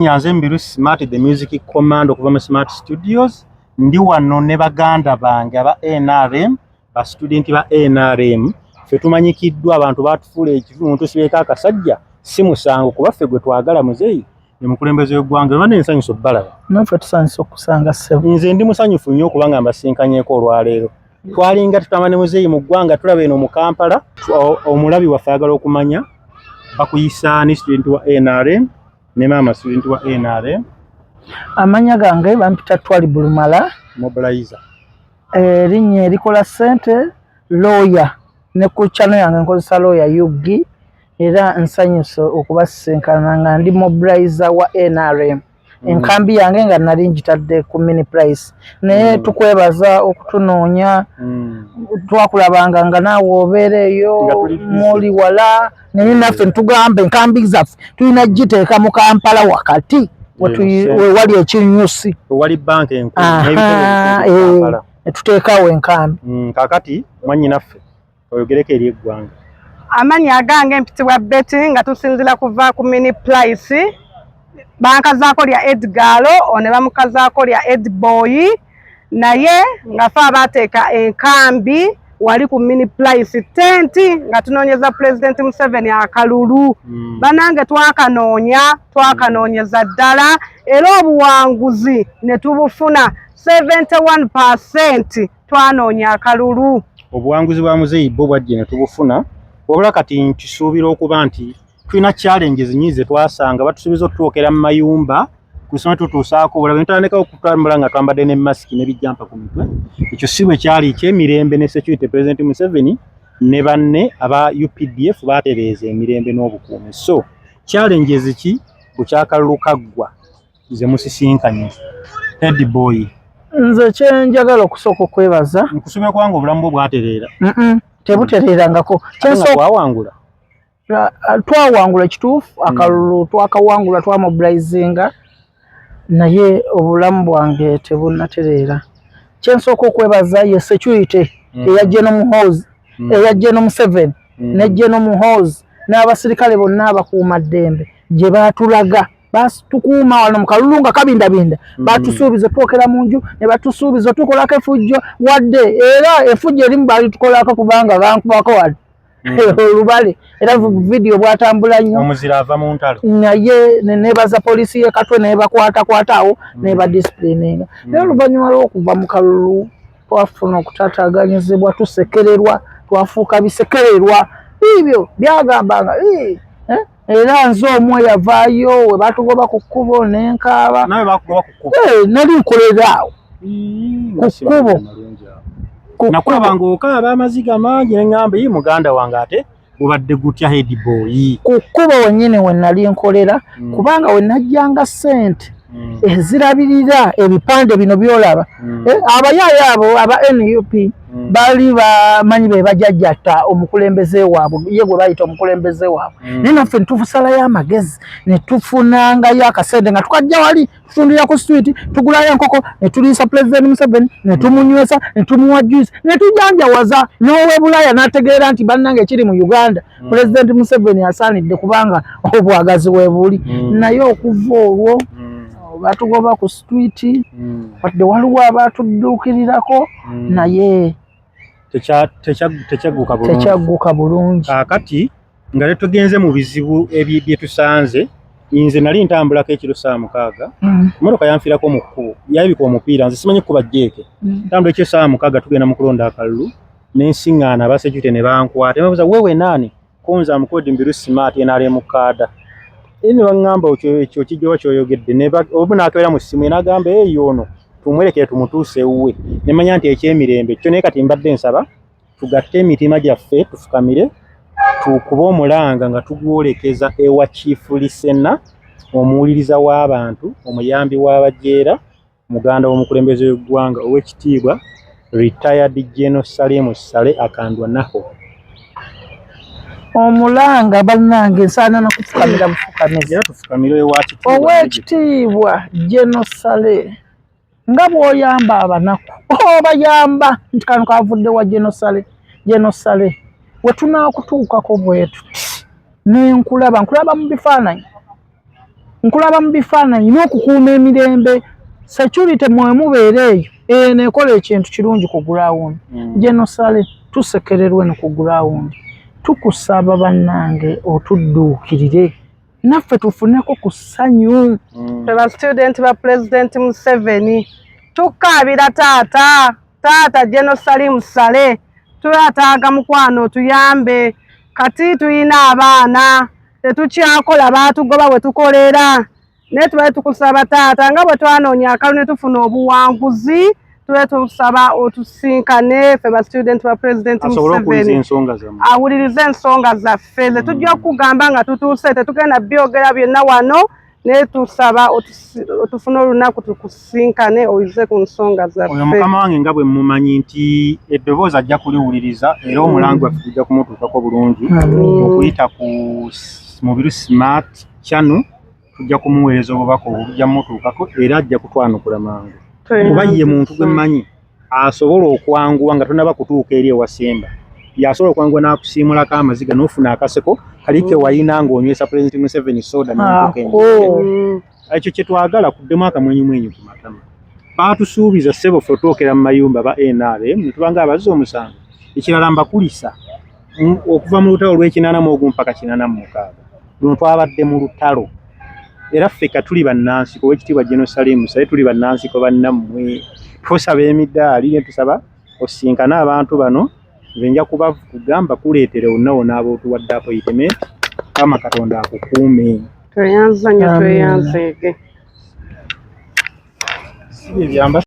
nyanze mbiru smart the music command okuva mu smart studios ndi wano ne baganda bange aba nrm ba student ba nrm fe tumanyikiddwa abantu batufuula ekivu muntu sibeeko akasajja si musango kuba ffe gwe twagala muzeeyi ne mukulembeze w'eggwanga olwa nensanyusa okubalaba naffe tusanyusa okusanga ssebo nze ndi musanyufu nnyo okuba nga mbasinkanyeko olwaleero twalinga tutama ne muzeeyi mu ggwanga tulaba eno mu kampala omulabi waffe ayagala okumanya bakuyisaani student wa nrm Ne maama student wa NRM. Amanya gange bampita Twali Bulumala. Mobilizer. Erinnya eh, erikola sente lawyer ne ku channel yange nkozesa lawyer Yugi era nsanyuse okubasisinkana nga ndi mobilizer wa NRM. Mm. enkambi yange nga nali njitadde ku mini price naye mm. tukwebaza okutunoonya mm. twakulabanga nga naawe obeera eyo muli wala naye naffe ntugamba enkambi zaffe tulina giteeka mu kampala wakati wewali ekinyusi wewali banka enkulu netuteekawo enkambi mm, kakati mwanyinaffe oyogereko eri eggwanga amanyi agange mpitibwa beti nga tusinzira kuva ku mini plice bankazaako lya edgalo one bamukazaako lya edboyi naye ngafe abaateeka enkambi wali ku mini plice tenti nga tunoonyeza pulezidenti museveni akalulu mm. banange twakanoonya twakanoonyeza ddala era obuwanguzi ne tubufuna 71 percent twanoonya akalulu obuwanguzi bwa muzeeyi bwo bwajje ne tubufuna wabula kati nkisuubira okuba nti tulina challenges nyingi ze twasanga batusubiza otutuukira mu mayumba kusoma tutuusaako obulabe ntandikawo okutambula nga twambadde ne masiki ne bijjampa ku mitwe ekyo si bwe kyali ekyemirembe ne security president museveni ne banne aba updf baatereeza emirembe n'obukuumi so challenges ki bukyakalulu kaggwa ze musisinkanye ed boy nze kyenjagala okusooka okwebaza nkusubira kubanga obulamu bwo bwatereera tebutereerangako kyensowangula twawangula kituufu hmm. akalulu twakawangula twamobilizinga naye obulamu bwange tebunatereera kyensooka okwebaza ye security hmm. eyajje nomuhoozi hmm. eyajje nomuseveni nejje nomuhoozi n'abasirikale bonna abakuuma ddembe gye baatulaga basi tukuuma wano mukalulu nga kabindabinda mm. batusuubiza twokera mu nju ne batusuubiza tukolako efujjo wadde era efujjo erimu balitukolako kubanga bankubako wali Mm. olubale era mm. vidiyo bwatambula nnyo omuzira ava mu ntalo naye nebaza poliisi ye katwe nebakwatakwata awo mm. neba disipulina eno naye oluvannyuma lwokuva mu kalulu twafuna okutataganyizibwa tusekererwa twafuuka bisekererwa biibyo byagambanga eh? era nze omu eyavaayo we batugoba ku kkubo nenkaaba eh, nali nkolera awo ku kkubo nakulabanga okaaba amaziga mangi neŋamba yi muganda wange ate gubadde gutya head boyi ku kkubo wennyini we nali nkolera mm. kubanga we najjanga ssente mm. ezirabirira ebipande bino byolaba mm. eh, abayaayo abo aba nup mm. bali bamanyi be bajajjata omukulembeze waabwe ye gwe bayita omukulembeze waabwe mm. naye naffe netuusalayo amagezi netufunangayo akasente nga tukajja wali tutundira ku street tugulayo enkoko netuliisa pulezidenti museveni netumunywesa netumuwa juice netujanjawaza n'owebulaya n'ategeera nti bannange ekiri mu uganda mm. pulezidenti museveni asaanidde kubanga obwagazi webuli mm. naye okuva olwo mm. batugoba ku streeti wadde waliwo abatudduukirirako naye tekyagguka bulungi kakati nga tetugenze mu bizibu byetusanze nze nali ntambulako ekiro saa mukaaga emotoka yanfirako mu kkubo yabika omupiira nze simanyi kukuba jeeke ntambula ekiro saa mukaaga tugenda mu kulonda akalulu ne nsiŋŋaana abasecurite ne bankwata ne babuuza wewe naani kunze amukodi mbiru smart nrm kaada e ne baŋŋamba okyo ekyo kijjoba kyoyogedde omu n'akeera mu ssimu enagamba eyo ono tumwerekere tumutuuse ewuwe ne manya nti ekyemirembe kyo naye kati mbadde nsaba tugatte emitima gyaffe tufukamire tukuba omulanga nga tugwolekeza ewa kiifu lisena omuwuliriza w'abantu omuyambi w'abajeera Muganda w'omukulembeze w'eggwanga ow'ekitiibwa Retired General Saleh Mussale Akandwa Naho. Omulanga bannange nsaana na kufukamira bufukamizi ow'ekitiibwa General Saleh nga bw'oyamba abanaku obayamba oh, nti kano kavudde wa General Saleh General Saleh we tunaakutuukako bwetuti nenkulaba nkulaba mu bifaananyi nkulaba mu bifaananyi n'okukuuma emirembe security mwe mubeera eyo eyo nekola ekintu kirungi ku gulawundi mm. genosale tusekererwe no ku gulawundi tukusaba bannange otudduukirire naffe tufuneko ku ssanyu mm. fe bastudenti ba pulezidenti museveni tukaabira taata taata genosali musale tubataaga mukwano tuyambe kati tulina abaana tetukyakola baatugoba bwe tukolera naye tubale tukusaba taata nga bwe twanoonya akalu ne tufuna obuwanguzi tube tusaba otusinkane fe ba student ba president Museveni awulirize ensonga zaffe ze tujja okugamba nga tutuuse tetugenda byogera byonna wano naye tusaba otufuna olunaku tukusinkane oyize ku nsonga zaffe. Oyo mukama wange nga bwe mumanyi nti eddoboozi ajja kuliwuliriza era omulango waffe tujja kumutuukako bulungi okuyita ku mubiru smart channel tujja kumuweereza obubaka obwo bujja mutuukako era ajja kutwanukula mangu kuba ye muntu gwe mmanyi. asobola okwanguwa nga tonaba kutuuka eri ewasemba yasobola okwanguwa n'akusiimulako amaziga n'ofuna akaseko kali ke wayina ng'onywesa pulezidenti museveni soda ekyo kye twagala kuddemu akamwenyumwenyu ku matama baatusuubiza ssebo fe otuokera mu mayumba ba nrm ne tubanga abazza omusango ekirala mbakulisa mm, okuva mu lutalo lw'ekinaana mu ogumu paka kinaana mu mukaaga luno twabadde mu lutalo era ffe ka tuli bannansi ku wekitiibwa jenosalimu saye tuli bannansi ko bannammwe tusaba emidaali ne tusaba osinkane abantu bano nze nja kuba kugamba kuleetera onawo n'abootuwadde apoyitementi kama katonda akukuume tweyanzanyo tweyanzeege si byebyamba